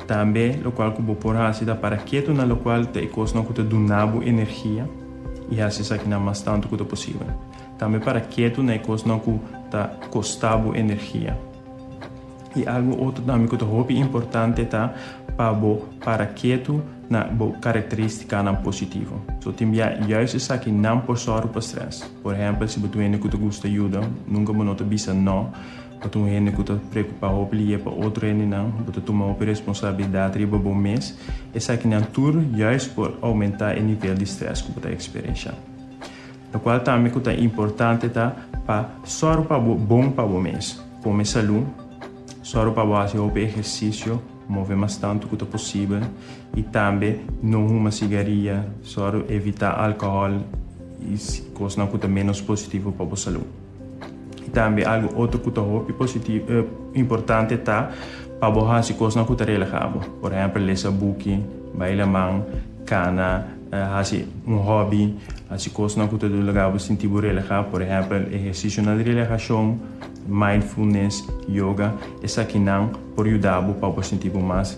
Tambe locual cu bo por haci ta para ketu na locual ta e cosnan cu ta duna bo energia y haci esakinan mas tantu cu ta posibel. Tambe para ketu na e cosnan cu ta costa bo energia. Y algo otro tambe cu ta hopi importante ta pa bo para ketu na bo caracteristicanan positivo. So tin bia juist esakinan por zorg bo pa stress. Por ehempel si bo duende cu ta gusta yuda, nunca bo no ta bisa no. Pa tur hende ku ta preokupá hopi lihé pa otro hendenan, bo ta tuma hopi responsabilidat riba bo mes. Esakinan tur juist por oumentá e nivel di strès ku bo ta eksperenshá. Lokual tambe ku ta importante ta pa sòru pa bo bon pa bo mes. Kome salú, sòru pa bo hasi hopi ehersisio, move mas tantu ku ta posibel i tambe no huma sigaria. Sòru evitá alkohòl i kosnan ku ta ménos positivo pa bo salú. I tambe algu otro ku ta hopi positivo, importante ta pa bo hasi kosnan ku ta relaha bo. Por ehèmpel lesa buki, bai laman, kana, hasi un hòbi, hasi kosnan ku ta duna laga bo sinti bo relahá, por ehèmpel ehersisionan di relahashon, mindfulness, yoga, esakinan por yuda bo pa bo sinti bo mas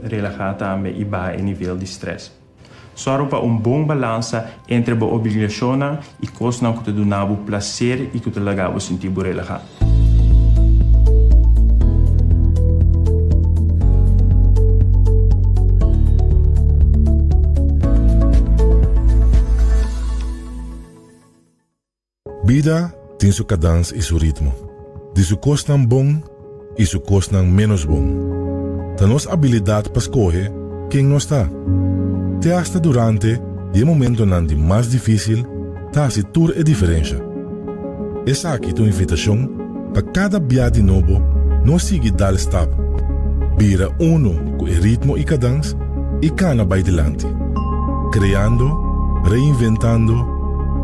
relahá tambe i baha e nivel di strès. Sòru pa un bon balansa entre bo obligashonnan i kosnan ku ta duna bo plaser i ku ta laga bo sinti bo relahá. Bida tin su kadans i su ritmo, di su kosnan bon i su kosnan ménos bon. Ta nos abilidat pa skohe ken nos ta. Te asta durante di e momentonan di mas difísil ta hasi tur e diferensha. Esaki ta un invitashon Pa kada bia di nobo no sigui dal stap, bira uno ku e ritmo i kadans i kana bai dilanti, kreando, reinventando,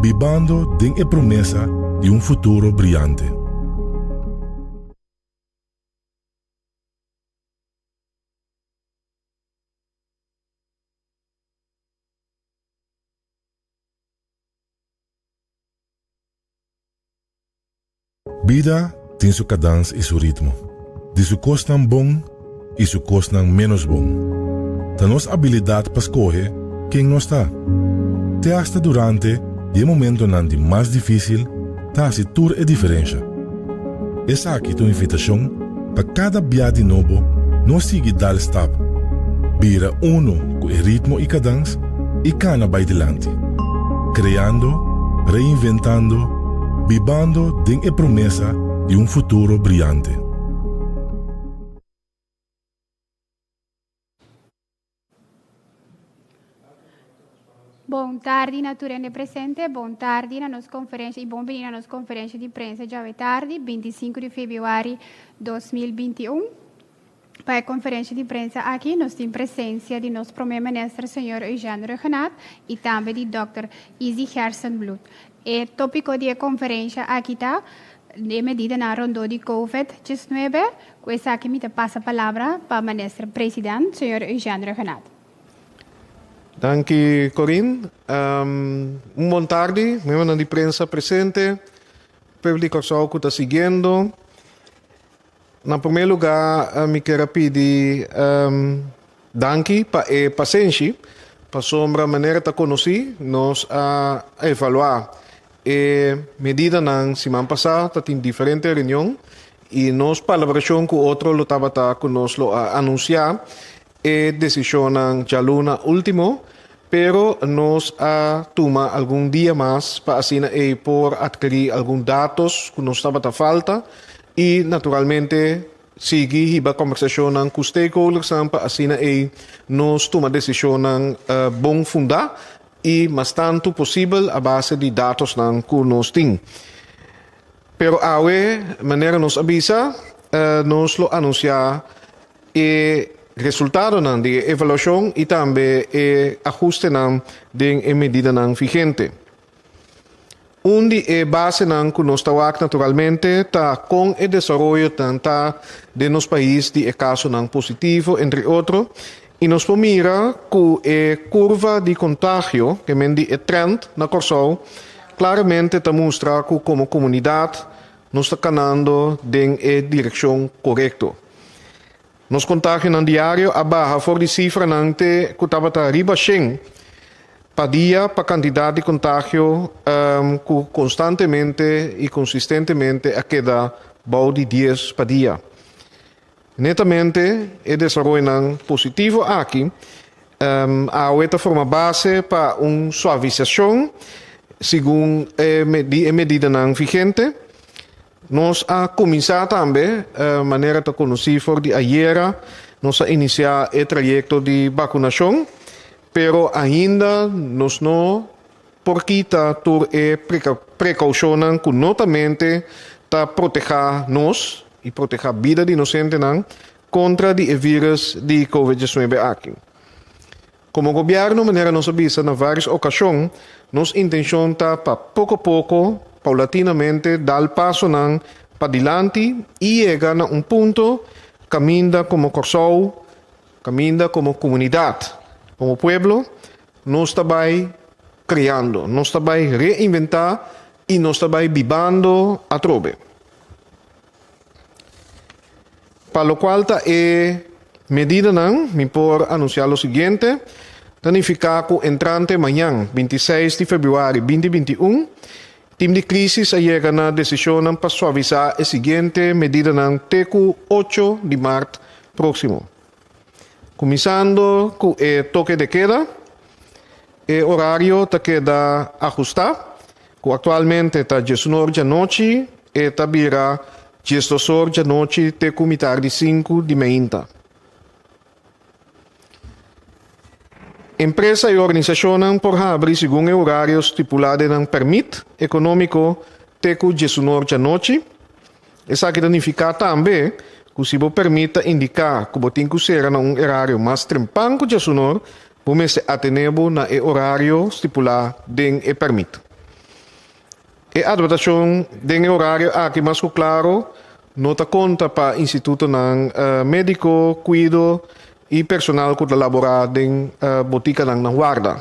bibando den e promesa di un futuro briante. Bida tin su kadans i su ritmo, di su kosnan bon i su kosnan ménos bon. Ta nos abilidat pa skohe ken nos ta. Te asta durante di e momentonan di mas difísil ta hasi tur e diferensha. Esaki ta un invitashon Pa kada bia di nobo nos sigui dal stap, bira uno ku e ritmo i kadans i kana bai dilanti, kreando, reinventando, bibando den e promesa di un futuro briante. Bon tardi na tur hende presente, bon tardi na nos konferensha i bon bini na nos konferensha di prensa djawe tardi, 25 di febrüari 2021. Pa e konferensha di prensa aki nos tin presensia di nos promé minister señor Eugène Regenaat i tambe di dòkter Izzy Gerson Bloed. E tópiko di e konferensha aki ta, E medidanan rondó di Covid diesnuebe. Ku esaki mi ta pasa palabra pa Minister President, señor Eugène Regenat. Danki Corin. Un bon tardi membernan di prensa presente, pùblik Kòrsou ku ta siguiendo. Na promé lugá mi ker a pidi danki pa e pasenshi pasobra manera ta konosí nos a evaluá e medidanan siman pasá ta tin diferente reunion i nos palabrashon ku otro lo tabata ku nos lo a anunsiá E decisionnan djalu na ultimo, pero nos a tuma algun dia mas pa asina ei por adquiri algun datos cu nos tabata falta y naturalmente sigui hiba conversacionnan cu stakeholdersnan pa asina ei nos tuma decisionnan bon funda y mas tantu posibel a base di datosnan cu nos tin. Pero awe, manera nos a bisa, nos lo anunsiá e resultadonan di e evaluashon i tambe e ahustenan den e medidanan vigente. Un di e basenan ku nos ta wak naturalmente ta kon e desaroyonan ta den nos pais di e kasonan positivo, entre otro, I nos por mira ku e kurva di kontagio, ke men di e trend na Kòrsou, klaramente ta mustra ku komo komunidat nos ta kanando den e direkshon korekto. Nos kontagionan diario a baha for di sifranan te ku tabata riba shen pa dia pa kantidat di kontagio ku konstantemente i konsistentemente a keda bou di dies pa dia. Netamente e desaroyonan positivo aki awe ta forma base pa un suavisashon segun di e medidanan vigente. Nos a kuminsá tambe, manera ta konosí for di ayera, nos a inisiá e trayekto di bakunashon, pero ainda nos no. Por kita tur e precaucionnan cu no ta mente ta proteha nos y proteha bida di nos gentenan contra di e virus di covid diecinuebe aki. Como Gobierno, manera nos a bisa na varios ocasion, nos intencion ta pa poco poco, paulatinamente dal pasonan padilanti y yega na un punto caminda como Corsou, caminda como comunidad, como pueblo, Nos ta bai kreando, nos ta bai reinventá i nos ta bai bibando atrobe. Pa lokual ta e medidanan, mi por anunsiá lo siguiente, Ta nifiká ku entrante mañan, binti seis di februari binti binti un, tim di Krisis a yega na desishonnan pa suavisá e siguiente medidanan te ku ocho di mart próksimo. Kuminsando ku e toke de keda, e orario ta keda ahustá, ku aktualmente ta diesun or dianochi, e ta bira diesdos or dianochi te ku mitardi sinku di meinta. Empresa i organisashonnan por habri segun e orario stipulá den nan pèrmit ekonómiko te ku diesun or dianochi, Esaki ta nifiká tambe ku si bo pèrmit ta indiká ku bo tin ku sera na un erario mas trempan ku djasunor, bo mester atené bo na e orario stipulá den e pèrmit. E adbertashon den e orario aki mas ku klaro no ta konta pa institutonan médiko, kuido i personal ku ta laborá den botikanan na warda.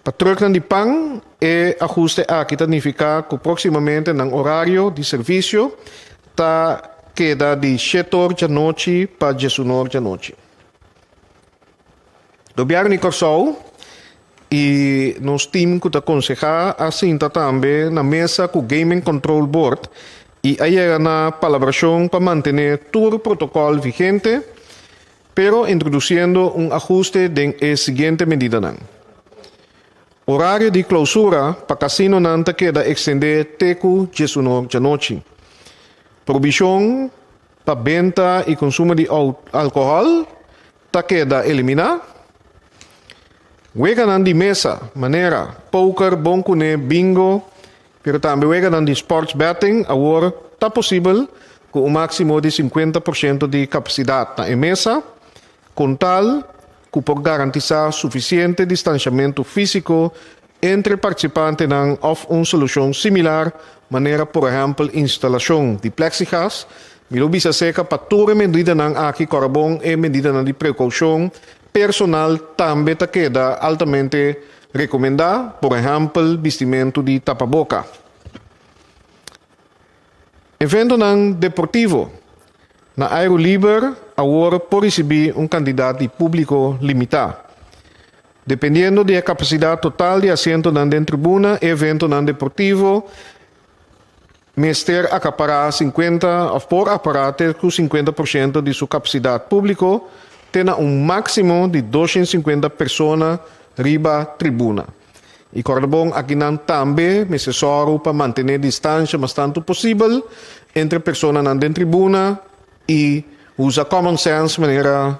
Pa truknan di pan, e ahuste aki ta nifiká ku próksimamente nan orario di servisio ta keda di shete or djanochi pa djesun'u or djanochi. Gobièrnu di Kòrsou i nos tim ku ta konsehá a sinta tambe na mesa ku Gaming Control Board i a yega na palabrashon pa mantené tur protokòl vigente Pero introduciendo un ajuste den e siguiente medidanan. Horario di clausura pa casinonan ta keda extende te cu diesuno djanochi. Prohibición pa benta y consumo di alcohol ta keda elimina. Weganan di mesa, manera poker, bon cune, bingo Pero tambe weganan di sports betting awor ta posibel ku un máksimo di sinkuenta por shento di kapasidat na e mesa, kon tal ku por garantisá sufisiente distanshamentu físiko entre partisipantenan òf un solushon similar manera por ehèmpel instalashon di pleksigas, mi lo bisa serka pa tur e medidanan aki kòrabon e medidanan di prekoushon personal tambe ta keda altamente Rekomendá, por ehèmpel, bistimentu di tapaboka. Eventonan deportivo na aero liber awor por risibí un kantidat di públiko limitá. Dependiendo di e kapasidat total di asientonan den tribuna, e eventonan deportivo, Mester acapará cincuenta of por apará te cu cincuenta por ciento di su capacidad publico te na un maximo di doshent cincuenta persona riba tribuna. Y corda bon, akinan tambe mester zorgu pa mantené distancia mas tantu posibel entre personanan den tribuna y usa common sense manera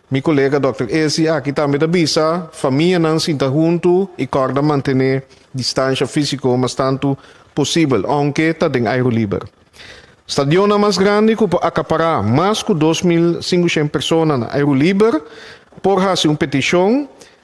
Mi kolega Dòkter Ezzi aki tambe ta bisa famianan sinta huntu i kòrda mantené distansha físiko mas tantu posibel, ounke ta den airo liber. Stadionnan mas grandi ku por akapará mas ku dos mil singushen persona na airo liber por hasi un petishon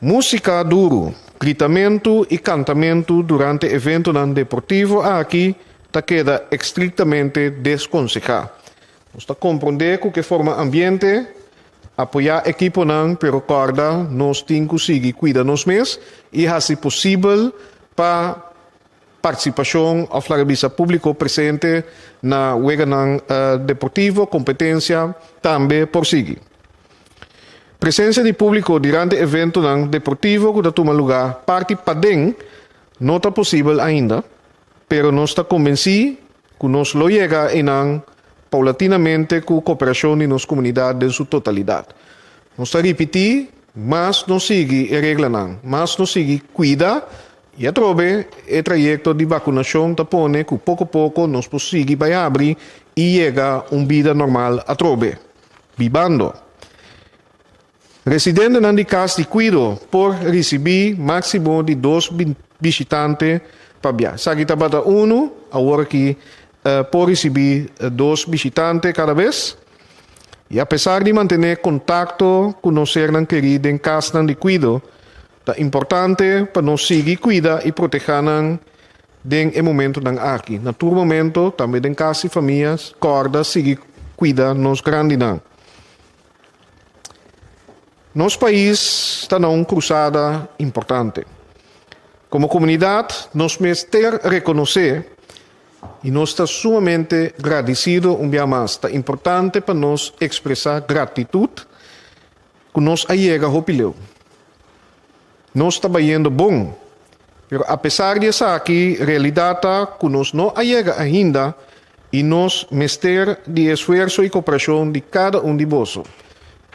Músika duru, gritamentu i kantamentu durante eventunan deportivo aki ta keda estriktamente deskonsehá. Nos ta komprondé ku ke forma ambiente apoyá ekiponan, pero kòrda nos tin ku sigui kuida nos mes i hasi posibel pa Partisipashon òf laga bisa públiko presente na weganan deportivo, kompetensia, tambe por sigui. Presensia di públiko durante eventonan deportivo ku ta tuma lugá parti paden no ta posibel ainda, pero nos ta konbensí ku nos lo yega einan paulatinamente ku koperashon di nos komunidat den su totalidat. Nos ta ripití, mas nos sigui e reglanan, mas nos sigui kuida I atrobe e trayekto di bakunashon ta pone ku poko poko nos por sigui bai abri i yega un bida normal atrobe. Bibando. Residentenan di Kas di Kuido por risibí máksimo di dos bishitante pabia. Esaki tabata unu, aworakí por risibí dos bishitante kada bes. I apesar di mantené kontakto ku nos sernan kerí den Kasnan di Kuido, Ta importante pa nos sigui kuida i protehá nan den e momentunan aki. Na tur momento, tambe den kas i famia, kòrda sigui kuida nos grandinan. Nos pais ta na un krusada importante. Komo komunidat, nos mester rekonosé i nos ta sumamente gradisido un bia mas. Ta importante pa nos ekspresá gratitut Ku nos a yega hopi leu. Nos ta bayendo bon, pero apesar di esaki, realidat ta ku nos no a yega ainda i nos mester di e esfuerso i koperashon di kada un di boso,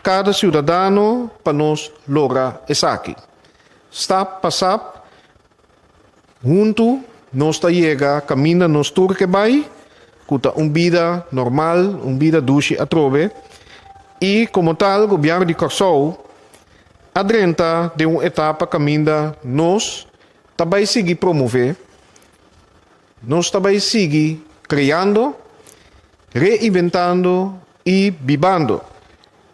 kada siudadano pa nos logra esaki. Stap pa sap Huntu nos ta yega kaminda nos tur ke bai, ku ta un bida normal, un bida dushi atrobe, i komo tal Gobièrnu di Kòrsou a drenta den un etapa kaminda nos ta bai sigui promové, nos ta bai sigui kreando, reinventando, I bibando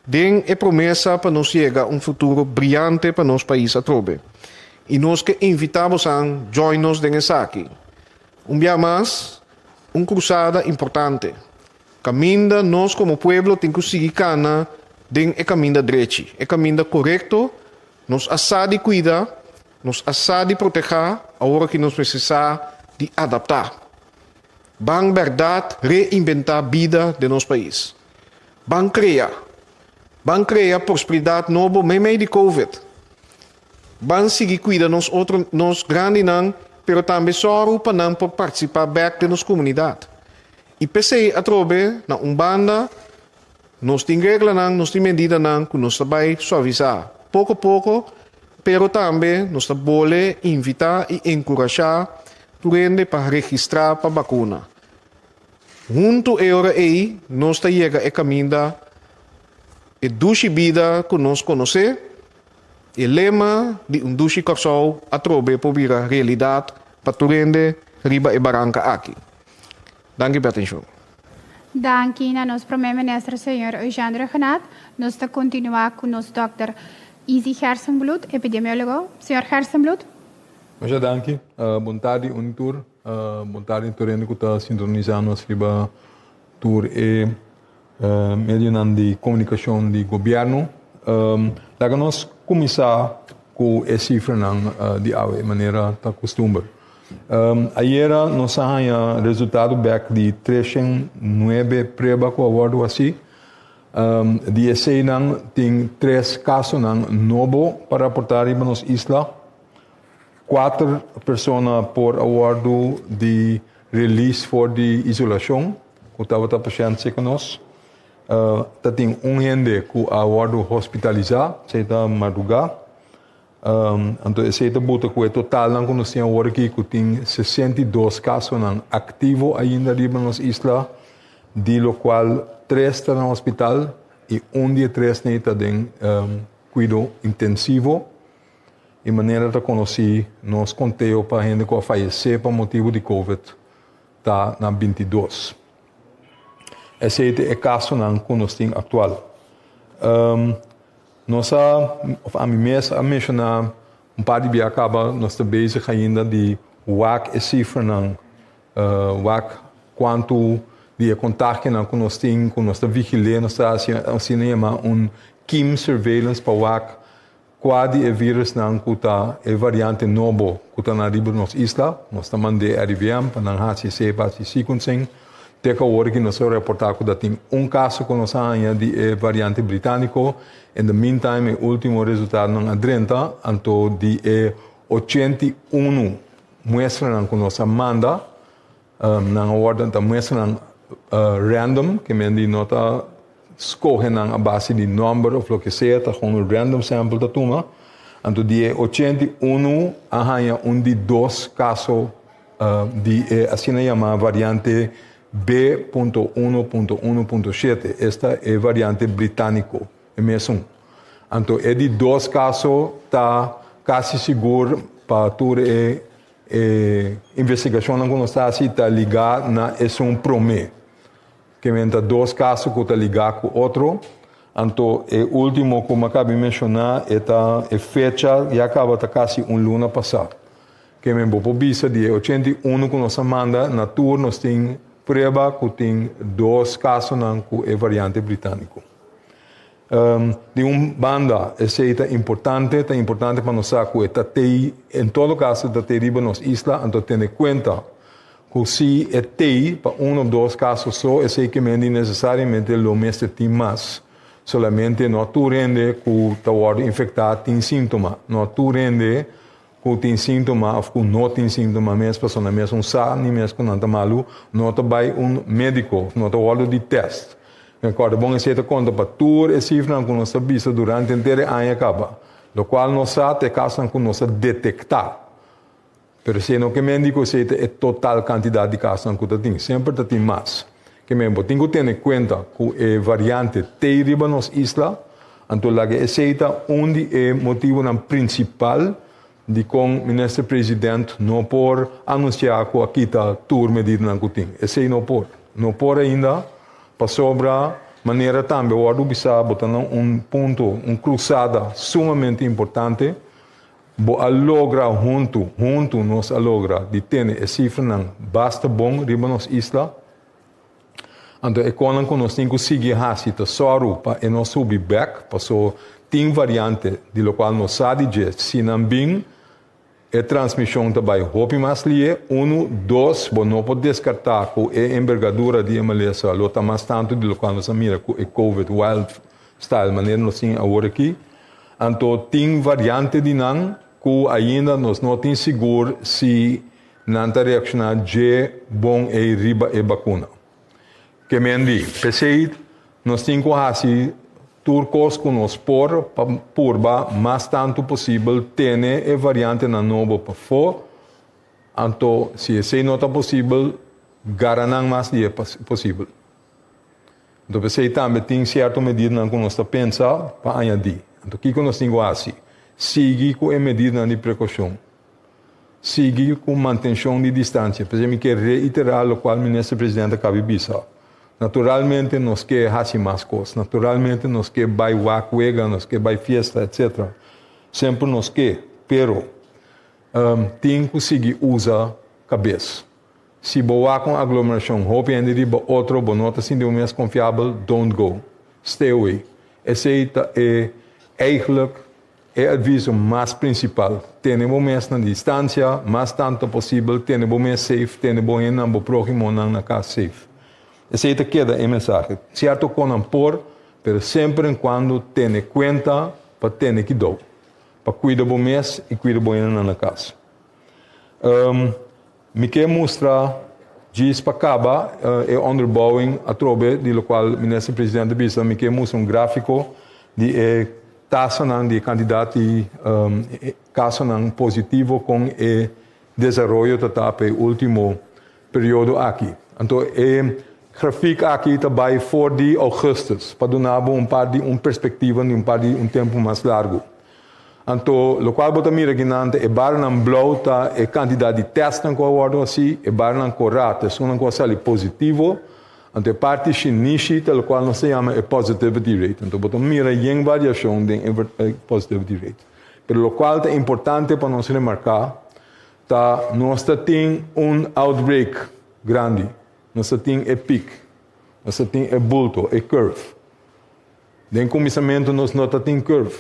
den e promesa pa nos yega un futuro briante pa nos pais atrobe. I nos ke invita bosan join nos den esaki. Un bia mas, un krusada importante, kaminda nos komo pueblo tin ku sigui kana den e kaminda drechi, e kaminda korekto, nos a sa di kuida, nos a sa di proteha, awor aki nos mester sa di adapta. Ban berdad reinventá bida den nos pais. Ban crea. Ban crea prosperidad nobo meimei di covid. Ban sigui cuida nos otro nos grandinan pero tambe sorgo pa nan por participá bek den nos comunidad. Y p'esei atrobe na un banda Nos tin reglanan, nos tin medidanan cu nos ta bay suavisá poco poco, pero tambe nos ta bole invitá y encurashá tur hende pa registrá pa bacuna. Huntu e ora ey nos ta yega e caminda, e dushi bida cu nos conocé, e lema di Un Dushi Corsou atrobe por bira realidad pa tur hende riba e baranca aki. Danki p'e atenshon. Danki na nos Prome Minister Señor Eugène Regenat, nos ta kontinuá ku nos dòkter Easy Gerstenbloed, epidemiólogo. Señor Gerstenbloed. Masha danki. Bon tardi un tur. Bon tardi tur hende ku ta sintonisá nos riba tur e. medionan di comunicacion di gobierno. Laga nos cuminsa cu e cifranan di awe, manera ta costumber. Ayera nos a haya resultado bek di treshent nuebe prueba cu a wordo haci. Di eseynan tin tres casonan nobo pa raporta riba nos isla. Kuater persona por a wordo di release for di isolacion. Ku tabata pashente ku nos. Ta tin un hende ku a wòrdu hospitalisá, esei ta madrugá. Anto esei ta buta ku e totalnan ku nos tin awor aki ku tin sesenta i dos kasonan aktivo ainda riba nos isla, di lo kual tres ta na hospital i un di e tresnan ei ta den kuido intensivo. I manera ta konosí nos konteo pa hende ku a fayesé pa motibu di kòvèd. ta na binti dos. Esei ta e kasonan ku nos tin aktual. Um, nos a, of ami mes a menshoná un par di bia kaba, nos ta bezig ainda di wak e sifranan, uh, wak kuantu di e kontakionan ku nos tin, ku nos ta vigil'é, nos ta hasi asina yamá un kim surveillance pa wak, Kua di e virusnan ku ta e variante nobo ku ta na riba nos isla? Nos ta mand'é RIVM pa nan hasi seba, hasi sequencing. Te ku awor aki nos a reportá ku ta tin un kaso ku nos a haña di e variante britániko. In the meantime e último resultadonan a drenta, anto di e ochenta i unu muestranan ku nos a manda, Um, nan a orden ta muestra nan uh, random, ke men di no ta scoge nan a base di number of lo ke sea, ta gewoon un random sample ta tuma. Anto di e 81 a hanja un di dos caso uh, di e asina llama variante B.1.1.7. Esta e variante británico, e mesun. Anto e di dos caso ta casi sigur pa tur e E investigacionnan cu nos ta haci ta ligá na esun promé. Kimen ta dos caso cu ta ligá cu otro. Anto e último cu m'acaba di mencioná e ta e fecha ya caba ta casi un luna pasá. Kimen bo por bisa di e ochenta i uno cu nos a manda na tur nos tin prueba cu tin dos casonan cu e variante Británico. Di un banda, esei ta importante, ta importante pa nos sa cu e ta tei, en todo caso e ta tei riba nos isla, anto tene cuenta cu si e tei pa un of dos caso so, esei kemendi necesariamente lo mester tin mas. Solamente no tur hende cu ta wordo infecta tin sintoma, no tur hende ku tin síntoma òf ku no tin síntoma mes, personnan mes un sa ni mes ku nan ta malu, no ta bai un médiko òf no ta wòrdu di tèst. E kòrda bon esei ta konta pa tur e sifranan ku nos a bisa durante henter e aña kaba, lokual nos sa ta e kasnan ku nos a detektá. Pero esei no ke médiko esei ta e total kantidat di kasnan ku ta tin, semper ta tin mas. Ke men, bo tin ku tene kuenta ku e variante t'ei riba nos isla, Anto laga esei ta un di e motibunan prinsipal dikon Minister President no por anunsiá ku a kita tur medidanan ku tin. Esei no por. No por ainda pasobra manera tambe wòrdu bisá bo ta na un punto, un krusada sumamente importante. Bo a logra huntu, huntu nos a logra di tene e sifranan basta bon riba nos isla. Anto e konan ku nos tin ku sigui hasi ta sòru pa e no subi bèk, pasó tin variante di lokual nos sa di dje si nan bin e transmishon ta bai hopi mas lié, unu, dos, bo no por deskartá ku e enbergadura di e malesa lo ta mas tantu di lokual nos a mira ku e covid wild style manera nos tin awor aki. Anto tin variante di nan ku ainda nos no tin sigur si Nan ta reacciona dje bon ey riba e bacuna. Kemen di. P'esey nos tin cu haci tur cos cu nos por pa purba mas tantu posibel tene e variantenan nobo p'afo, anto si esey no ta posibel gara nan mas di e posibel. Anto p'esey tambe tin cierto medidanan cu nos ta pensa pa añadi. Anto kico nos tin cu haci? Sigui cu e medidanan di precaucion. sigui cu mantencion di distancia. P'esey mi kier reitera locual Minister President a cabi bisa. Naturalmente nos kier haci mas cos, naturalmente nos kier bay wak wega, nos kier bay fiesta, etc. Semper nos kier, pero tin cu sigui uza cabes. Si bo wak un aglomeracion, hopi hende riba otro, bo no ta sinti bo mes confiabel, don't go. Stay away. Esey ta e, eigenlijk, E aviso mas principal, tene bo mes na distancia, mas tanto posibel tene bo mes safe, tene bo hennan, bo prohimonan na cas safe. Esey ta keda e mensahe. Cierto con nan por, pero semper en cuando tene cuenta pa tene kidou, pa cuida bo mes y cuida bo hennan na cas. Um. Mi ke mustra djis pa kaba e onderbouwing atrobe di lokual Minister Presidente a bisa mi ke mustra un grafiko di e tasanan di e kandidat di kasonan positivo kon e desaroyo ta ta pa e último periodo aki. Anto e grafik aki ta bai for di Augustus pa duna bo un par di un perspektiva di un par di un tempu mas largu. Anto, locual bo ta mira aquí nante, e barnan blauw ta e cantidad di testnan cu a wordo haci, e barnan cora ta esonnan cu a sali positivo, anto e parti shinishi ta locual nos ta yama e positivity rate. Anto bo ta mira yen variacion den e positivity rate. Pero locual ta importante pa nos remarca ta nos ta tin un outbreak grandi, nos ta tin e pic, nos ta tin e bulto, e curve. Den kuminsamentu nos no ta tin curve.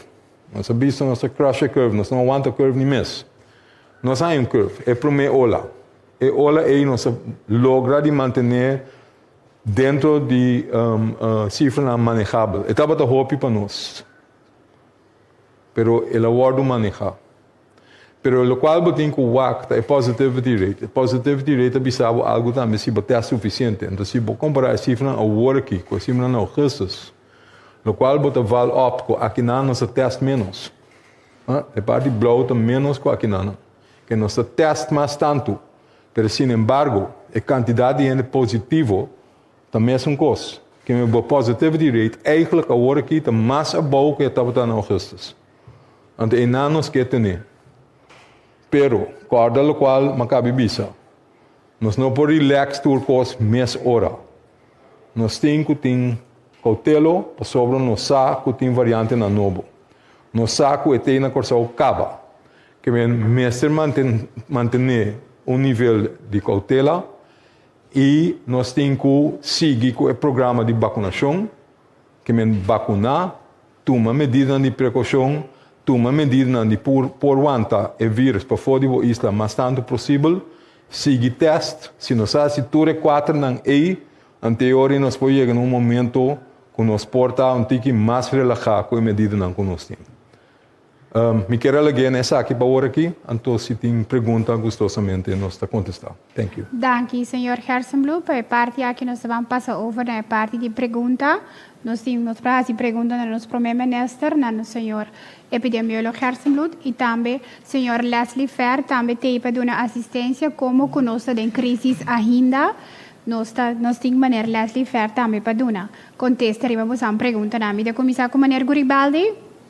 Nos a bisto nos ta crush e curve, nos no a wanta curve ni mes. Nos haña un curve, e promé ola. E ola ei nos a logra di mantené dentro di sifranan manejabel. E tabata hopi pa nos, pero el a wòrdu manehá. Pero locual bo tin cu wak ta e positivity rate. E positivity rate ta bisa bo algo tambe si bo test suficiente. Entonces si bo compara e cifranan awor aki cu e cifranan na augustus, locual bo ta val op cu akinan nos ta test menos. E parti blauw ta menos cu akinan. Ke nos ta test mas tantu. Pero sin embargo e cantidad di hende positivo ta mesun cos. Keme bo positivity rate, eigenlijk awor aki ta mas abou cu e tabata na augustus. Ante einan nos ke tene. Pero, kòrda lokual Makabi bisa, Nos no por rilèks tur kos mes ora. Nos tin ku tin koutelo pasobra nos sa ku tin variantenan nobo. Nos sa ku e tei na Kòrsou kaba. Kebien mester mantene un nivel di koutela i nos tin ku sigui ku e programa di bakunashon, kebien bakuná. Tuma medidanan di prekoushon, tuma medidanan di por wanta e vírùs pafó di bo isla mas tantu posibel, sigui tèst, si nos a hasi tur e kuaternan ei, anteori nos por yega na un momentu ku nos por ta un tiki mas relahá ku e medidanan ku nos tin. Um, mi kier a lag'é na esaki pa ora aki, anto si tin pregunta gustosamente nos ta contesta. Thank you. Danki Señor Hersenbloem pa e parti aki nos ta ban pasa over na e parti di pregunta. Nos tin nos por a haci pregunta na nos Prome Minister, na nos Señor Epidemiolog Hersenbloed y tambe Señor Leslie Fair tambe t'ei pa duna asistencia como cu nos ta den crisis ainda nos ta nos tin Meneer Leslie Fair tambe pa duna contesta riba bosan pregunta nan. Mi ta cuminsa cu Meneer Guribaldi.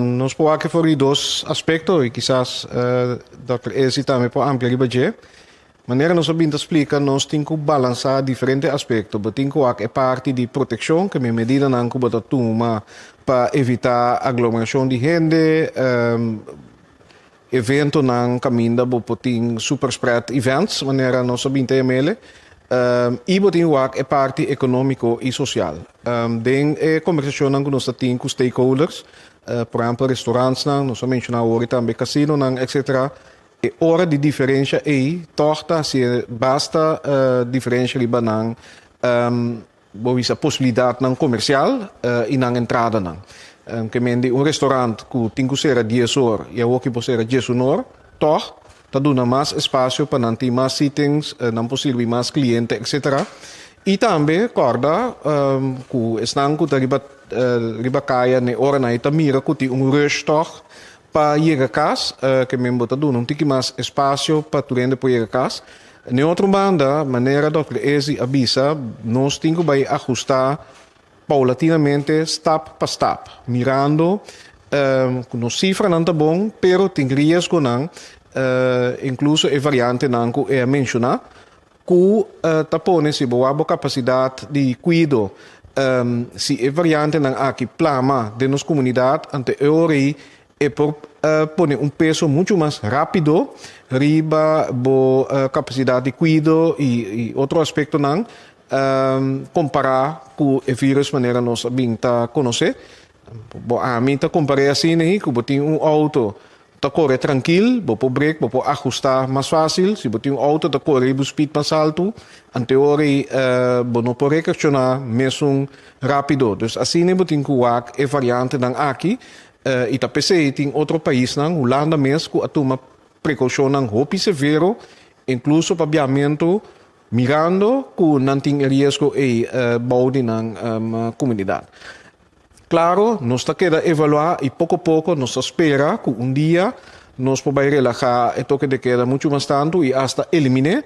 Nos por wak for di dos aspekto i kisas Dòkter Essy tambe por amplia riba dje. Manera nos a bin ta splika, nos tin ku balansá diferente aspekto. Bo tin ku wak e parti di protekshon, kemia medidanan ku bo ta tuma pa evitá aglomerashon di hende, Eventonan kaminda bo por tin superspread events, manera nos a binti ml, i bo tin wak e parti ekonómiko i sosial. Den e kombersashonnan ku nos ta tin ku stakeholders, por ehèmpel restoransnan, nos a menshoná awor, i tambe kasinonan etsetera, e ora di diferensha ei tòg ta hasié basta diferensha riba nan. Bo bisa posibilidatnan komersial i nan entradanan. Ke men di un restorant ku tin ku sera dies or i awoki por sera dies un or, tòg ta duna mas espasio pa nan tin mas sittings, nan por sirbi mas kliente etsetera. I tambe kòrda ku esnan ku ta riba riba kaya n'e oranan ei ta mira ku tin un rush tòg pa yega kas, ke men bo ta duna un tiki mas espasio pa tur hende por yega kas. Den otro banda, manera Dòkter Ezzi a bisa, nos tin ku bai ahustá poulatinamente, stap pa stap, mirando ku nos sifranan ta bon, pero tin riesgonan, inkluso e variantenan ku e a menshoná, ku ta pone si bo a bo kapasidat di kuido, si e variantenan aki plama den nos komunidat, ante e ora ei E por pone un peso muchu mas rápido riba bo kapasidat di kuido i otro aspektonan kompará ku e vírùs manera nos a bin ta konosé. Bo a mi ta kompar'é asina ahí ku bo tin un outo ta kore trankil, bo por brek, bo por ahustá mas fásil. Si bo tin un outo ta kore riba un spid mas altu, anto ora bo no por reakshoná mesun rápido. Dus asina bo tin ku wak e variantenan aki I ta p'esei tin otro paisnan, Hulanda mes, ku a tuma prekoushonnan hopi severo, inkluso pa biamentu, mirando ku nan tin e riesgo ei bou di nan komunidat. Klaro, nos ta keda evaluá i poko poko nos ta spera ku un dia nos por bai relahá e toke de keda muchu mas tantu i asta eliminé,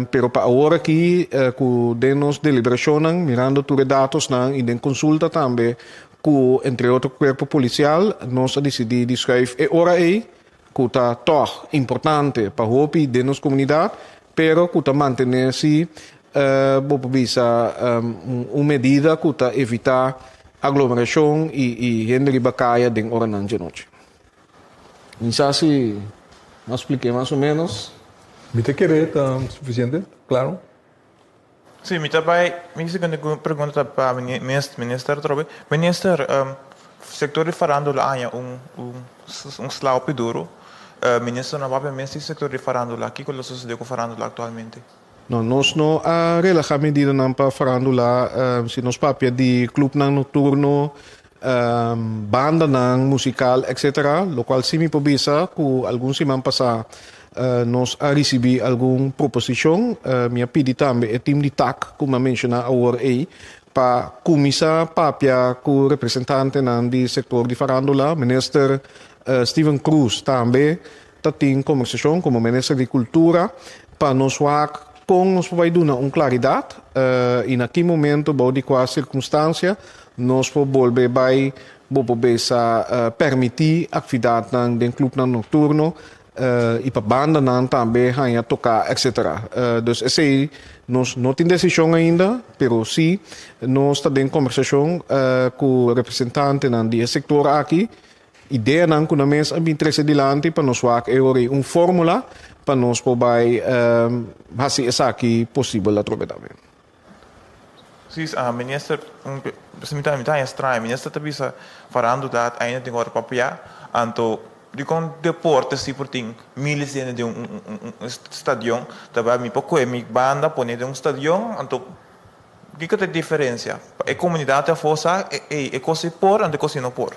pero pa awor aki ku den nos deliberashonnan, mirando tur e datosnan i den konsulta tambe, Ku entre otro kuerpo polisial nos a disidí di skùif e ora ei ku ta tòg importante pa hopi den nos komunidat, pero ku ta mantené si bo por bisa un medida ku ta evitá aglomerashon i hende riba kaya den oranan dje nochi. Mi sa si no splik'é mas o ménos. Mi ta kere ta sufisiente klaro. Si, mi ta bai, mi di segunde ku mi pregunta ta pa minister atrobe, Minister, sektor di farandula a haña un un slaopi duru, minister no a papia mes di sektor di farandula, kiko lo sosode ku farandula aktualmente? No, nos no a relahá medidanan pa farandula, si nos papia di klupnan nokturno, bandanan musikal etc. Lokual si mi por bisa ku algun siman pasá nos a risibí algun proposishon. Mi a pidi tambe e tim di tak ku mi a menshoná awor ei pa kuminsá papia ku representantenan di sektor di farándula, minister Steven Cruz tambe Ta tin conversacion cu Minister di Cultura pa nos wak con nos por bay duna un claridad y na ki momento, bao di cua circunstancia nos por bolbe bay bo por bisa permiti actvidadnan den clubnan nocturno y pa bandanan tambe haya toca etc. Dus esey nos no tin decision ainda pero si nos ta den conversacion cu representantenan di e sector aki Ideanan ku nan mes a bin trese dilanti pa nos wak e ora ei un fórmula pa nos por bai hasi esaki posibel atrobe tambe. Precies, a minister mi ta mi ta haña straña, minister ta bisa Farando dat ainda tin ora pa apoyá, anto dikon deporte así por tin miles di hende den un un un stadion, ta bai mi pa kohe mi banda pone den un stadion anto. Kiko ta e diferensia? Pa e komunidat afó sa ey e kos ei por anto e kos ei no por.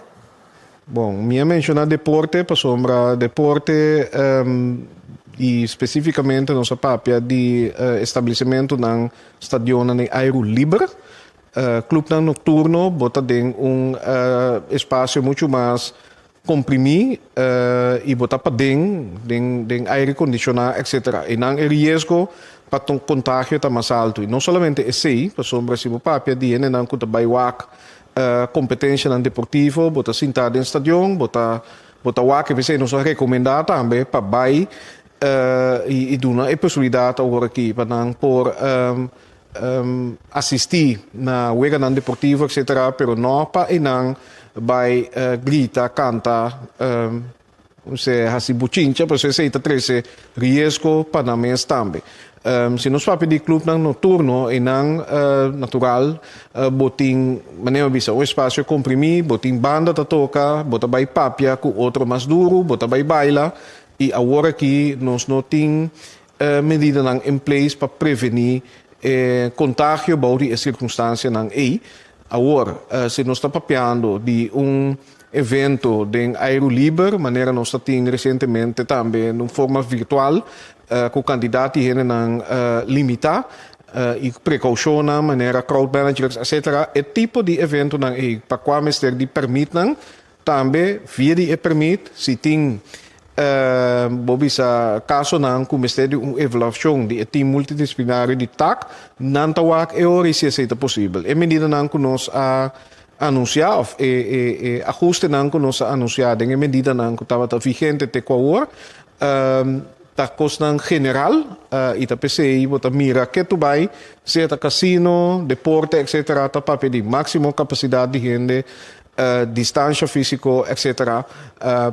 Bon, mi a menshoná deporte pasobra deporte i spesífikamente nos a papia di establesimentunan, stadionnan den ayru liber. Klupnan nokturno bo ta den un espasio muchu mas Comprimí y botá paden den aire condicioná etc. Einan e riesgo pa contagio ta mas alto. Y no solamente esey, pasobra si bo papia di hendenan cu ta bay wak competencianan deportivo, bo ta sintá den stadion, bo ta bo ta wak e besey nos a recomendá tambe pa bay y duna e posibilidad awor aki pa nan por Asistí na weganan deportivo etc. Pero no pa eynan bay grita, canta, ose haci buchincha pasobra esey ta trece riesgo pa nan mes tambe. Si nos papia di clubnan noturno eynan natural bo tin manera mi bisa un espacio comprimí, bo tin banda ta toca, bo ta bay papia cu otro mas duro, bo ta bay baila y awor aki nos no tin E medidanan en place pa prevení e contagio bou di e circunstancianan ei. Awor, si nos ta papiando di un evento den aero liber, manera nos ta tin recientemente tambe den un forma virtual cu cantidad di hendenan limitá y precaucionnan manera crowd managers etc. E tipo di eventonan ei pa cua mester di permitnan Tambe via di e permit si tin e bo bisa kasonan ku mester di un evaluashon di e tim multidisiplinario di tak, nan ta wak e ora i si esei ta posibel. E medidanan ku nos a anunsiá òf e e ahustenan ku nos a anunsiá den e medidanan ku tabata vigente te ku awor ta kosnan general i ta p'esei bo ta mira ke tur bai, sea ta kasino, deporte etsetera ta papia di máksimo kapasidat di hende distansha físiko etc.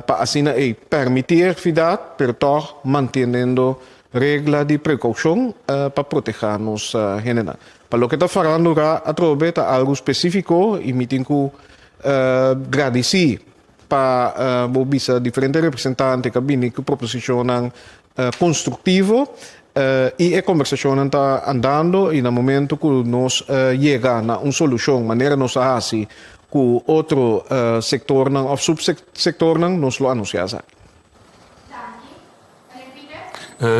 Pa asina ei pèrmití e akfidat pero tòg mantenendo regla di prekoushon pa protehá nos hendenan. Pa loke ta farando ra atrobe ta algu spesífiko i mi tin ku gradisí pa bo bisa diferente representante ku a bini ku proposishonnan constructivo y e conversacionnan ta andando y na momento cu nos yega na un solucion manera nos a haci cu otro sectornan of subsectornan nos lo anuncia esaki.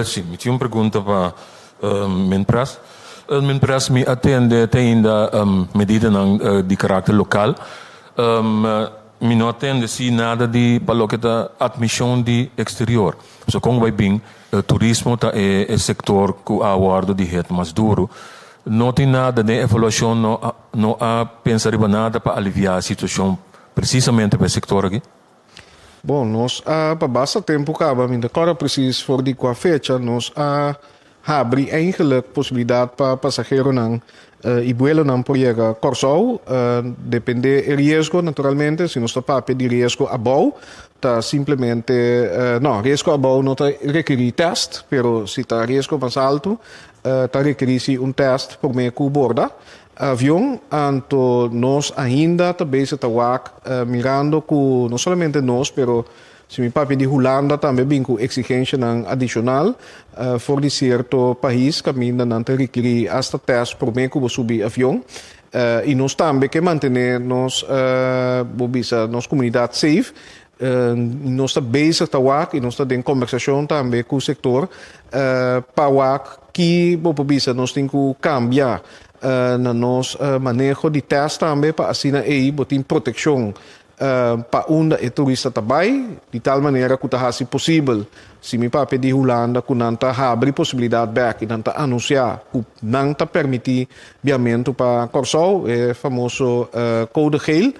Si, mi tin un pregunta pa min pres. Min pres mi atende te ainda medidanan di caracter local. Mi no a tende si nada di pa loke ta admishon di eksterior. So kon bai bin, turismo ta e e sektor ku a wòrdu di het mas duru. No tin nada den evaluashon, no a no a pensa riba nada pa aliviá e situashon presisamente pa e sektor aki. Bon, nos a pa basta tempu kaba, mi no ta kòrda presis for di kua fecha, nos a Habri eigenlijk posibilidat pa pasageronan i buelonan por yega Kòrsou, dependé e riesgo naturalmente, si nos ta papia di riesgo abou, ta simplemente, no, riesgo abou no ta rekerí tèst, pero si ta riesgo mas altu, ta rekerí sí un tèst promé ku borda avion. Anto nos ainda ta bezig ta wak mirando ku no solamente nos, pero Si mi papia di Hulanda tambe bin ku eksigenshanan adishonal for di sierto pais kaminda nan ta rikiri asta tèst promé ku bo subi avion i nos tambe ke mantené nos, bo bisa, nos komunidat seif. Nos ta bezig ta wak i nos ta den kòmbersashon tambe ku sektor pa wak ki bo por bisa nos tin ku kambia na nos maneho di tèst tambe pa asina ei bo tin protekshon pa unda e turista ta bai, di tal manera cu ta haci posibel si mi papia di Hulanda cu nan ta habri posibilidad bek y nan ta anuncia cu nan ta permiti biamento pa Corsou, e famoso Code Geel,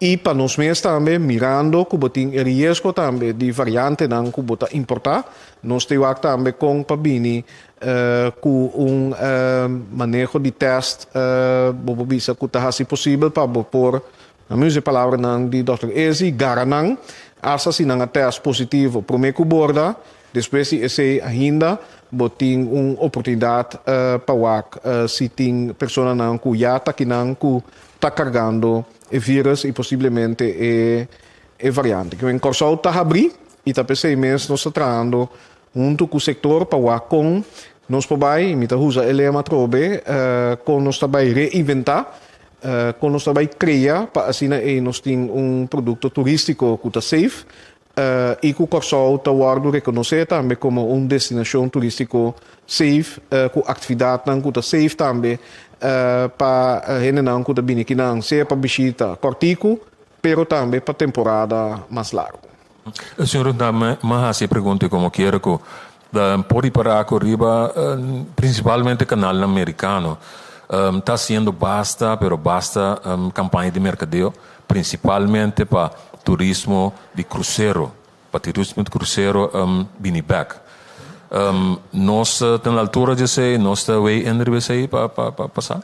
y pa nos mes tambe mirando cu bo tin e riesgo tambe di variantenan cu bo ta importa, nos ta wak tambe con pa bini Ku un maneho di tèst bo por bisa ku ta hasi posibel pa bo por, na mismo e palabranan di Dòkter Ezzi, gara nan. Asta si nan a tèst positivo promé ku borda, despues di esei ainda bo tin un oportunidat pa wak si tin personanan ku ya ta kinan ku ta kargando e vírus i posiblemente e variante. Kiko en Kòrsou ta habrí i ta p'esei mes nos ta trahando Huntu ku sektor pa wak kon nos por bai, mi ta usa e lema atrobe, kon nos ta bai reinventá, kon nos ta bai krea pa asina ei nos tin un produkto turístiko ku ta safe i ku Kòrsou ta wòrdu rekonosé tambe komo un destinashon turístiko safe ku aktividatnan ku ta safe tambe pa hendenan ku ta bini akinan, sea pa bishita kòrtiku Pero tambe pa temporada mas largu. E señor ta dame m'a hasi e pregunta como kier cu ta por ripara cu riba principalmente canalnan mericano ta haciendo basta pero basta campaña di mercadeo principalmente pa turismo di crucero pa turismo di crucero bini bek. Nos ta na altura di esey? Nos ta away enriba esey pa pasa?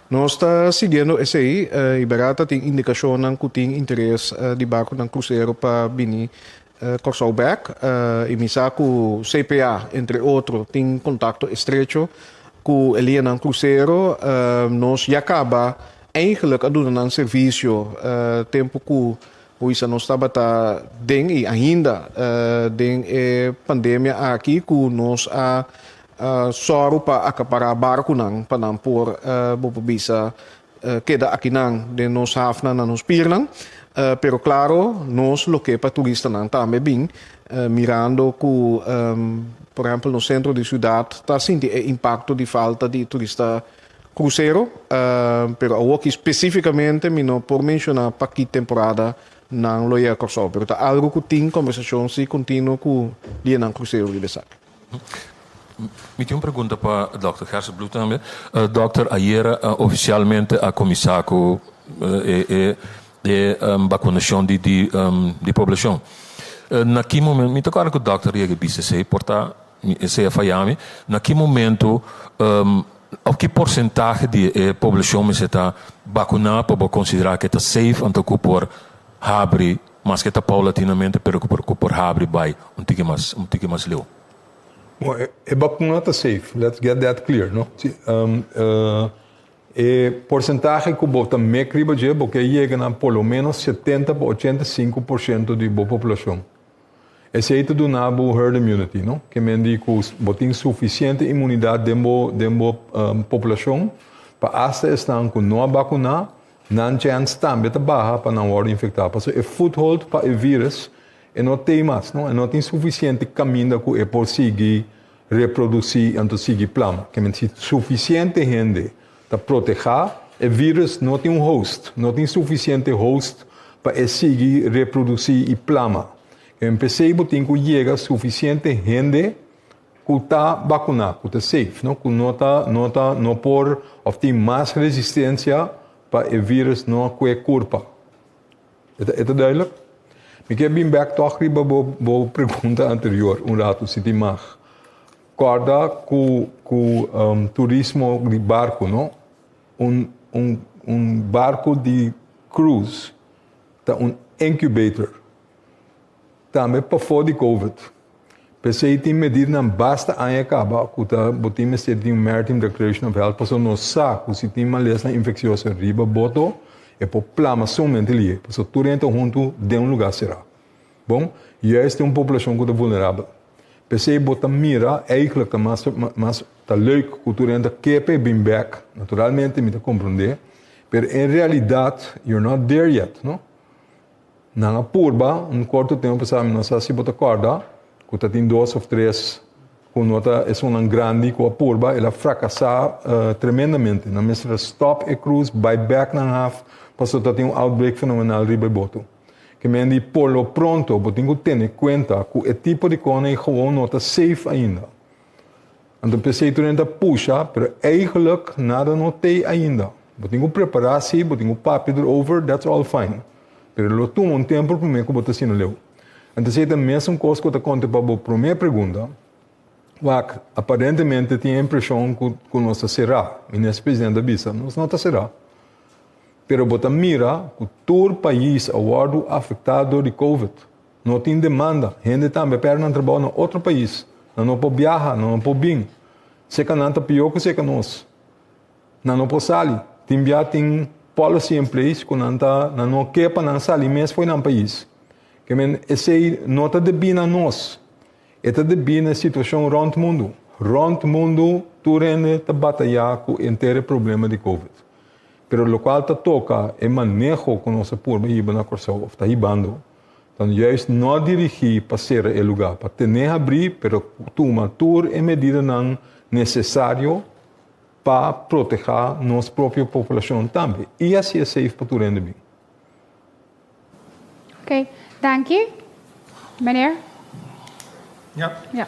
Nos ta siguiendo esey y Berá ta tin indicacionnan cu tin interes di barconan crucero pa bini Corsou bek y mi sa cu CPA entre otro tin contacto estrecho cu e lianan crucero. Nos ya caba eigenlijk a duna nan servicio tempo cu Huiza nos tabata den y ainda den e pandemia aki cu nos a Sòru pa akapará barkunan pa nan por, bo por bisa, keda akinan den nos hafnan na nos pirnan. Pero klaro, nos lo ke pa turistanan tambe bin, mirando ku, por ehèmpel, nos sentro di siudat ta sinti e impakto di falta di turista krusero. Pero awor aki spesífikamente mi no por menshoná pa ki temporada nan lo yega Kòrsou, pero ta algu ku tin kombersashon si kontinuo ku lidenan krusero riba esaki. Mi tin un pregunta pa Dòkter Gerselbloed tambe. Dòkter, ayera ofisialmente a kuminsá ku e bakunashon di di poblashon. Na ki momen, mi ta kòrda ku Dòkter a yega a bisa esei por ta, esei a fayá mi, na ki momentu òf ki porsentahe di e poblashon mester ta bakuná pa bo konsiderá ku e ta safe anto ku por habri. Maske ta paulatinamente pero cu por cu por habri bai un tiki mas un tiki mas leu. Bon e e bacuna ta safe, let's get that clear no. Si um e porcentahe cu bo ta mec riba dje bo ke yega na por lo menos setenta pa ochenta y cinco por ciento di bo poblacion. Esey ta duna bo herd immunity no, ke men di cu bo tin suficiente inmunidad den bo den bo um poblacion pa hasta esnan cu no a bacuna Nan chance tambe ta baha pa nan worde infecta pasobra e foothold pa e virus e no tey mas, no, e no tin suficiente caminda cu e por sigui reproduci y anto sigui plan. Ke menti si suficiente hende ta proteha, e virus no tin un host, no tin suficiente host pa e sigui reproduci y plama. Ke men pesey bo tin cu yega suficiente hende cu ta bacuna, cu ta safe, no? cu no ta, no ta, no por of tin mas resistencia pa e virus no cue curpa. E ta, e ta duidelijk? Mi kier bin back toch riba bo, bo pregunta anterior un rato, si tin mag. Corda cu, cu um, turismo di barco, no? Un, un, un barco di cruise ta un incubator. Tambe pafó di covid. P'esei tin medidanan basta aña kaba ku ta bo tin mester di tin un Maritime Declaration of Health paso nos sa ku si tin malesnan infeksioso riba bo do e por plama somente lihe paso tur hende ta huntu den un lugá será. Bon, yu a este un poblashon ku ta vulnerabel. P'esei bo ta mira eihgelijk ta mas mas ta leuk ku tur hende ta ke p'e bin bèk, naturalmente mi ta komprondé, pero en realidat you're not there yet, no? Nan a purba un corto tempo pasá, mi no sa si bo ta corda, cu ta tin dos of tres cu no ta esunnan grandi cu a purba, el a fracasá tremendamente. Nan mester a stop e cruz, bai bek nan haf, pasobra ta tin un outbreak fenomenal riba e boto. Ke men di, por lo pronto bo tin cu tene cuenta cu e tipo di cohonan y gawon no ta safe ainda. Anto pensei tur nen ta pusha, pero eigenlijk nada no te ainda. Bo tin ku prepará si, bo tin ku papia derover, that's all fine. Pero lo tuma un tempu promé ku bo ta asina leu. Anto esei ta mesun kos ku ta konta pa bo promé pregunta, wak aparentemente tin e impreshon ku nos ta será, minis president a bisa. Nos no ta será. Pero bo ta mira ku tur pais a wòrdu afektá dor di covid. No tin demanda, hende ta ambe pèrdè nan trabou na otro pais, nan no por biaha, nan no por bin. Seka nan ta pió ku seka nos. Nan no por sali. Tin bia tin policy en place ku nan ta nan no ke pa nan sali mes fo'i nan pais. Kemen esei no ta debí na nos. E ta debí na e situashon rònt mundu. Rònt mundu tur hende ta batayá ku enter e problema di covid. Pero lokual ta toka e maneho ku nos a purba hiba na Kòrsou òf ta hibando. Tan juis no dirigí pa sera e lugá pa ten'é habrí pero tuma tur e medidanan nesesario pa protehá nos propio populashon tambe i hasi e seif pa tur hende bin. Ok, danki. Meneer? Ja. Ja.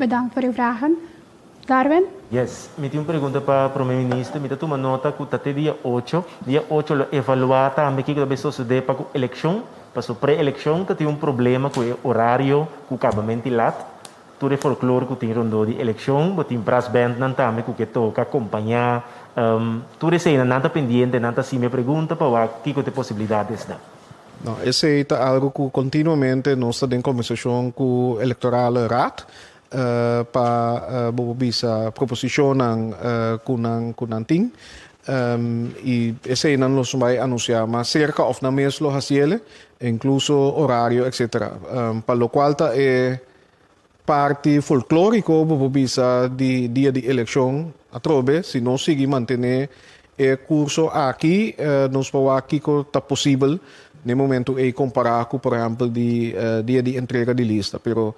Bedank for uw vragen. Darwin? Yes, mi tin un pregunta pa Prome Minister. Mi ta tuma nota cu ta te dia ocho. Dia ocho lo evalua tambe kico ta bay sosode pa cu eleccion. Pasobra pre-eleccion ta tin un problema cu e horario cu cabamenti lat. Tur e folklore cu tin rondó di eleccion. Bo tin brass bandnan tambe cu ke toca, compaña. Tur eseinan nan ta pendiente, nan ta haci mi e pregunta pa wak kico ta e posibilidad esnan. Nau, esei ta algu ku kontinuamente nos ta den konversashon ku Elektoral Raad pa bobo bisa proposishonnan ku nan ku nan tin. I esei nan lo bai anunsiá mas serka òf nan mes lo hasiel, inkluso orario etsetera. Pa lokual ta e. Parti folklórico bo por bisa di dia di eleccion atrobe. Si nos sigui mantené e curso aki nos por wak kico ta posibel n'e momento ey compará cu por ehempel di dia di entrega di lista. Pero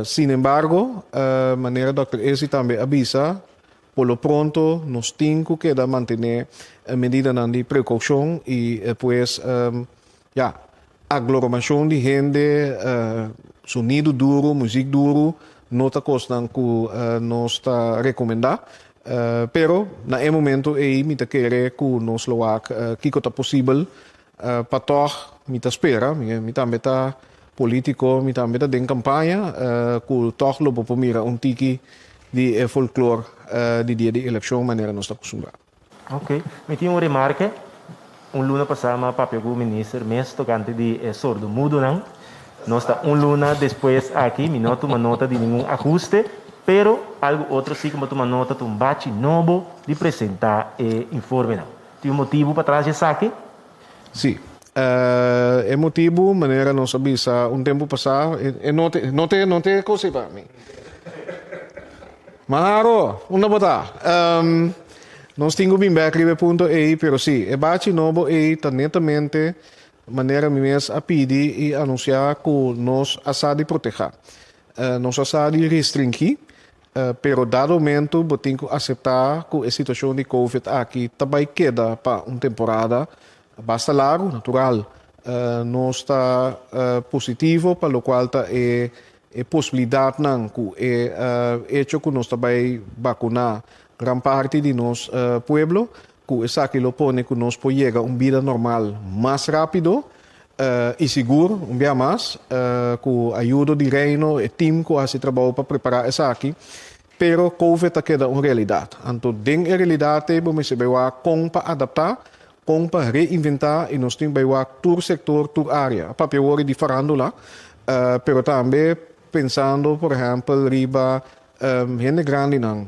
sinembargo manera Dòkter Esi tambe a bisa Por lo pronto nos tin cu keda mantené e medidanan di precaucion y pues ya, agloromacion di hende, sonido duru, muziek duru no ta cosnan cu nos ta recomenda. Pero na e momento ey mi ta kere cu nos lo wak kico ta posibel Pa tog mi ta spera, mi tambe ta politico, mi tambe ta den campaña, cu tog lo bo por mira un tiki di e folklor di dia di eleccion manera nos ta acustumbrá. Ok. Mi tin un remarke. Un luna pasá m'a papia cu Minister mes tocante di e sordomudonan. Nos ta un luna despues aki, mi no a tuma nota di ningun ahuste, pero algu otro si cu mi a tuma nota ta un bachi nobo di presentá e informenan. Tin un motibu patras di esaki? Sí. E motibu, manera nos a bisa un tempu pasá, e no te, no te, no te e kos ei pa mi. Mas haro, unda bo ta? Nos tin ku bin bèk riba e punto ei, pero sí, e bachi nobo ei ta netamente manera mi mes a pidi i anunsiá ku nos a sa di protehá. Nos a sa di restringí Pero dado momentu bo tin ku aseptá ku e situashon di Covid aki ta bai keda pa un temporada basta largu. Natural, nos ta positivo pa lokual ta e posibilidatnan ku e echo ku nos ta bai bakuná gran parti di nos pueblo, Cu esaki lo pone cu nos por yega un bida normal mas rapido y sigur. Un bia mas, cu ayudo di Reino, e team cu a haci trabou pa prepara esaki, pero Covid ta keda un realidad. Anto den e realidad te bo mester bay wak con pa adapta, con pa reinventa y nos tin bay wak tur sector, tur area. A papia wor di farandula, pero tambe pensando, por ehempel, riba Hende grandinan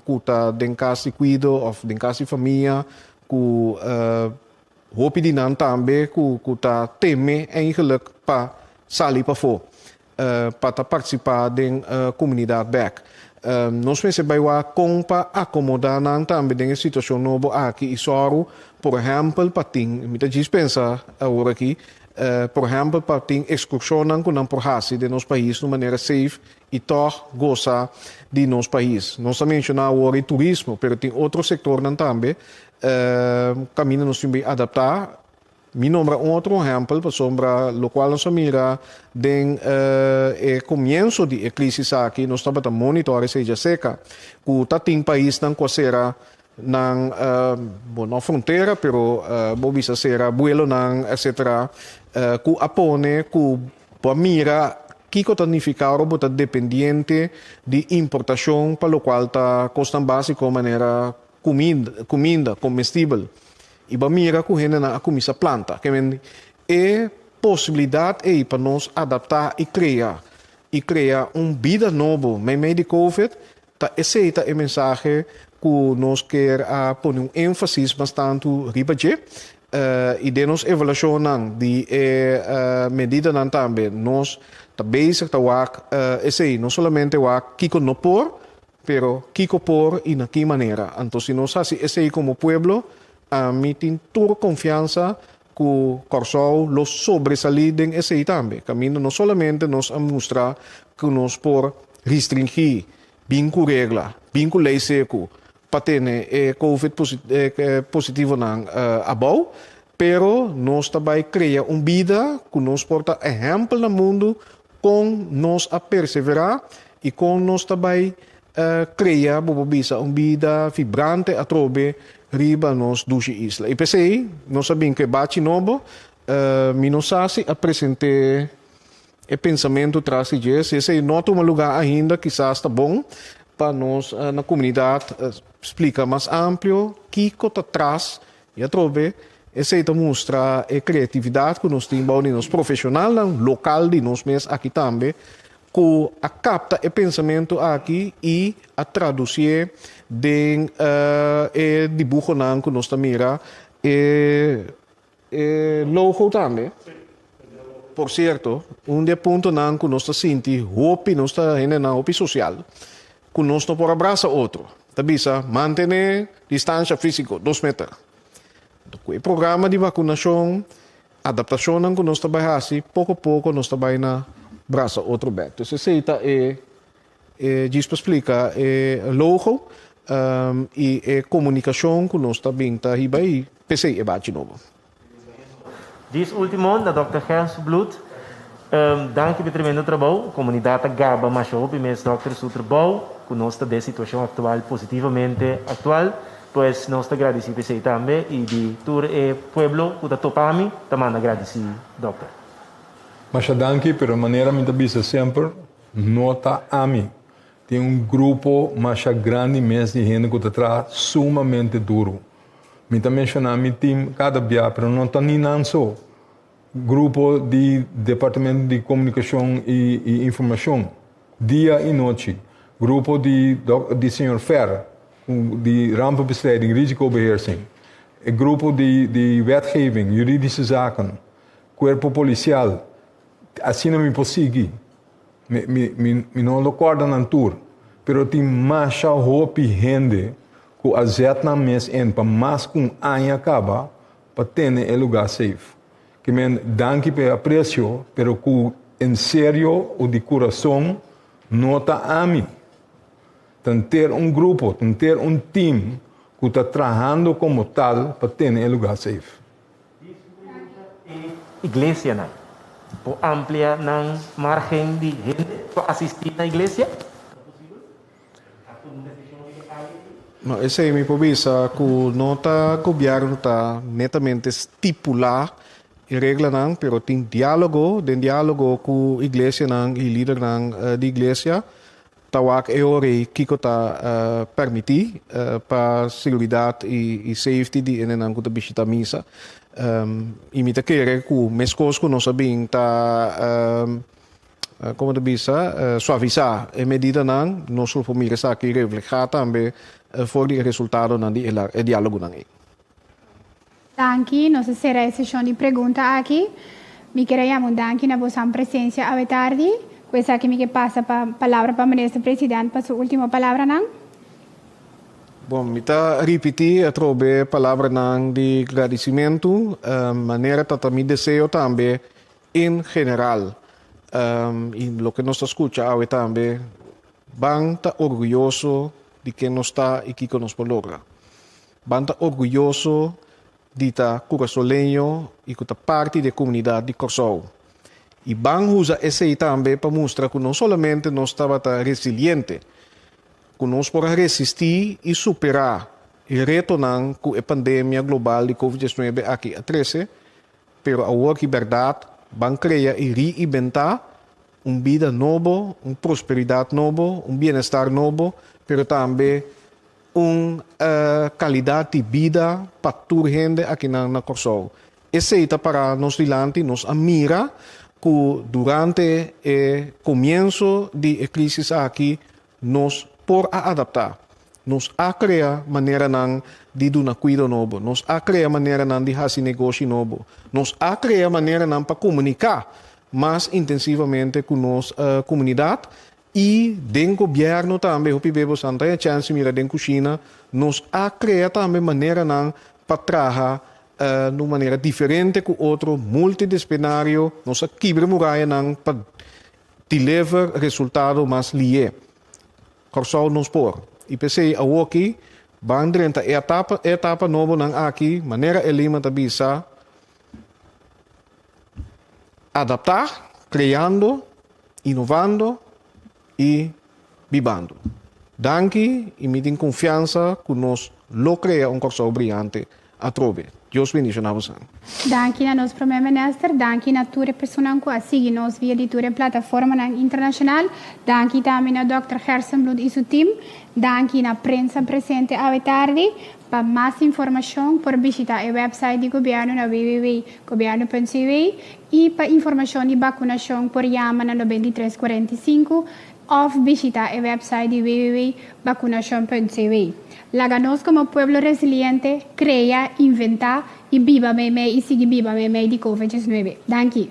ku ta den kas di kuido òf den kas di famia ku hopi di nan tambe ku ta teme eingelik pa sali pafó pa ta partisipá den komunidat bèk. Nos mester bai wak kon pa akomodá nan tambe den e situashon nobo aki i sòru, por ehèmpel, pa tin, mi ta djis pensa awor aki, por ehèmpel pa tin ekskurshonnan ku nan por hasi den nos pais na un manera seif y tog goza di nos pais. Nos ta menciona awor e turismo, pero tin otro sectornan tambe caminda nos tin bay adapta. Mi nombra un otro ehempel pasobra locual nos a mira den e comienzo di e crisis aki, nos tabata monitor e seja seca cu ta tin paisnan cu a cera nan, bo no frontera, pero bo bisa cera buelonan etc. Cu a pone cu. Bo a mira kiko ta nifiká ora bo ta dependiente di importashon pa lokual ta kosnan básiko manera kuminda, komestibel, i bo a mira ku hendenan a kuminsá planta. Ke men e posibilidat ei pa nos adaptá i krea i krea un bida nobo meimei di Covid Ta esei ta e mensahe ku nos kier a pone un énfasis mas tantu riba dje. I den nos evaluashonnan di e medidanan tambe nos ta bezig ta wak esei, no solamente wak kiko no por, pero kiko por i na ki manera. Anto si nos hasi esei komo pueblo, ami tin tur konfiansa Cu Corsou lo sobresali den esey tambe, caminda no solamente nos a mustra cu nos por ristringi bin cu regla, bin cu ley secu pa tene e covid positivonan abou, pero nos ta bay crea un bida cu nos por ta ehempel na mundu Kon nos a perseverá i kon nos ta bai krea bo por bisa un bida vibrante atrobe riba nos dushi isla. I p'esei nos a bin ku e bachi nobo. Mi no sa si a present'é e pensamentu tras di dje. Si esei no a tuma lugá ainda, kisas ta bon pa nos na komunidat splika mas amplio kiko ta tras I atrobe, esei ta mustra e kreatividat ku nos tin bou di nos profeshonalnan lokal di nos mes aki tambe, ku a kapta e pensamentu aki i a tradusié den e dibuhonan ku nos ta mira, e logo tambe. Por sierto, un di e puntonan ku nos ta sinti hopi nos ta hendenan hopi sosial ku nos no por a brasa otro, ta bisa mantené distansha físiko dos meter. Ku e programa di vakunashon, adaptashonnan ku nos ta bai hasi, poko poko nos ta bai na brasa otro bèk. Dus esei ta e e djis pa splika e logo i e komunikashon ku nos ta bin ta hiba ei p'esei e bachi nobo. Dis ultimo na Dòkter Gerns Bloed danki pe tremendo trabou. Komunidat ta gaba masha hopi mes dòkter su trabou ku nos ta des situashon aktual positivamente aktual. Pues nos ta gradisí p'esei tambe i di tur e pueblo ku ta topa mi ta manda gradisí dòkter. Masha danki, pero manera mi ta bisa semper no ta ami. Tin un grupo masha grandi mes di hende ku ta traha sumamente duru. Mi ta menshona mi tim kada bia, pero no ta ni nan so. Grupo di Departamento di Comunicacion y Informacion, dia y nochi. Grupo di dok di señor Ferr, cu di Rampenbestrijding, Risicobeheersing. E grupo di di Wetgeving, Juridische Zaken, Cuerpo Policial. Asina mi por sigui. Mi, mi, mi, mi no lo corda nan tur, pero tin masha hopi hende cu a zet nan mes in pa mas cu un aña caba pa tene e lugar safe. Ki men danki pa e aprecio, pero cu en serio o di curazon no ta ami. Ta henter un grupo, ta henter un team cu ta trahando como tal pa tene e lugar safe. E iglesianan por amplia nan margen di hende pa asisti na iglesia? No, esei mi por bisa ku no ta gobièrnu ta netamente stipulá e reglanan, pero tin diálogo, den diálogo ku iglesianan i lidernan di iglesia, Ta wak e ora ei kiko ta permití pa seguridat i safety di enenan ku ta bishita misa. I mi ta kere ku meskos ku nos a bin ta, komo ta bisa, suavisá e medidanan, nos lo por mira esaki reflehá tambe for di e resultadonan di e diálogonan ei. Danki, nos a sera e seshon di pregunta aki. Mi ker a yama un danki na bosan presensia awetardi. Ku esaki mi ke pasa pa palabra pa Minister President pa su ultimo palabranan. Bon, mi ta ripiti atrobe palabranan di gradisimentu manera ta ta mi deseo tambe en general i loke nos ta skucha awe tambe ban ta orguyoso di ken nos ta i kiko nos por logra. Ban ta orguyoso di ta Curasoleño y cu ta parti di e comunidad di Corsou. Y ban uza esey tambe pa mustra cu no solamente nos tabata resiliente, cu nos por a resisti y supera e retonan cu e pandemia global di Covid diecinuebe aki a trece, pero awor di berdad ban crea y reinventa un bida nobo, un prosperidad nobo, un bienestar nobo, pero tambe Un kalidat di bida pa tur hende akinan na Kòrsou. Esei ta pará nos dilanti. Nos a mira ku durante e komienso di e krísis aki nos por a adaptá. Nos a krea maneranan di duna kuido nobo. Nos a krea maneranan di hasi negoshi nobo. Nos a krea maneranan pa komuniká mas intensivamente ku nos komunidat I den gobierno tambe, hopi bes boso a nta e chènsi mira den kushina, nos a krea tambe maneranan pa traha den un manera diferente ku otro, multidisplinario, nos a kibra murayanan pa deliver resultado mas liye. Kòrsou nos por. I p'esei awoki ban drenta e etapa nobonan aki, manera Elima ta bisa, Adaptá, kreando, inovando i bibando. Danki i mi tin konfiansa ku nos lo krea un Kòrsou briante atrobe. Dios bendisho na bosan. Danki na nos Promé Minister, danki na tur e personan ku a sigui nos via di tur e plataformanan internashonal, danki tambe na Dòkter Gerson Bloed i su tim, danki na prensa presente awe tardi, Pa mas informashon por bishitá e wèpsait di gobièrnu na www.gobierno.cw i pa informashon di bakunashon por yama na nobenta i tres kuarenta i sinku òf bishitá e wèpsait di www.bakunashon.cw. Laga nos komo pueblo resiliente krea, inventá i biba meimei i sigui biba meimei di kovid diesnuebe. Danki.